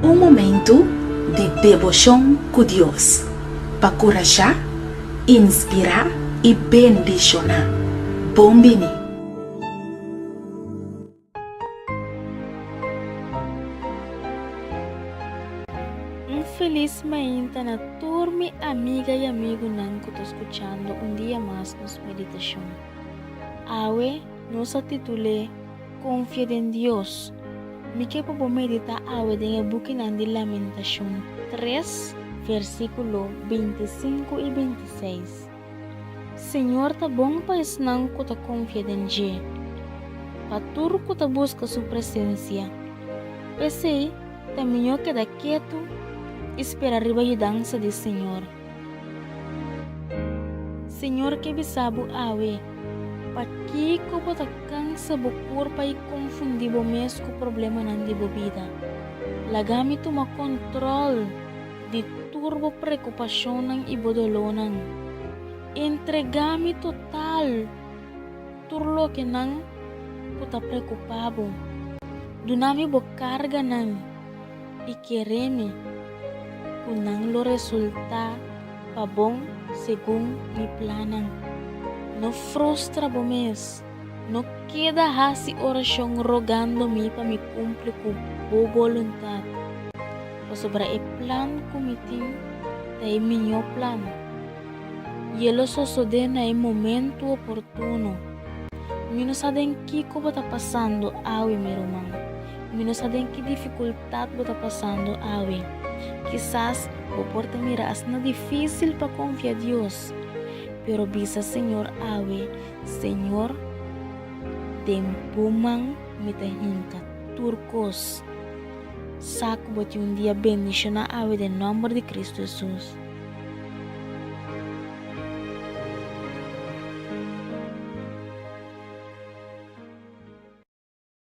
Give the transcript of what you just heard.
Un momentu di deboshon ku Dios pa kurashá, inspirá i bendishoná. Bon bini! Un felis mainta na tur mi amiga y amigunan cu ta scuchando un dia mas nos meditacion. Awe nos a titul'e Confia den Dios. Mi ke pa bo medita awe den e bukinan di Lamentacion tres versiculo binti sinku y binti seis. Señor ta bon pa esnan cu ta confia den dje, pa tur cu ta busca su presencia. P'esey ta miño keda ketu y spera riba yudansa di Señor. Señor ke bisa bo awe, Pakico bo ta cansa bo curpa y confundi bo mes cu problemanan di bo bida? Laga mi tuma control! di tur bo preocupacionnan y bo dolornan. Entrega mi total tur loke nan cu ta preocupa bo. Duna mi bo carganan y kere mi cu nan lo resulta pa bon segun mi plannan. No frustra bo mes. No keda hasi orashon rogando mi pa mi kumpli ku bo boluntat, pasobra e plan ku mi tin ta e miñó plan, i e lo sosodé na e momentu oportuno. Mi no sa den kiko bo ta pasando awe, mi ruman. Mi no sa den ki difikultat bo ta pasando awe. Kisas bo por ta mira asina difísil pa konfia Dios. Pero bisa Señor awe, Señor, den Bo man mi ta hinca tur cos. Sa cu Bo tin un dia bendiciona awe den nomber di Cristo Jesús.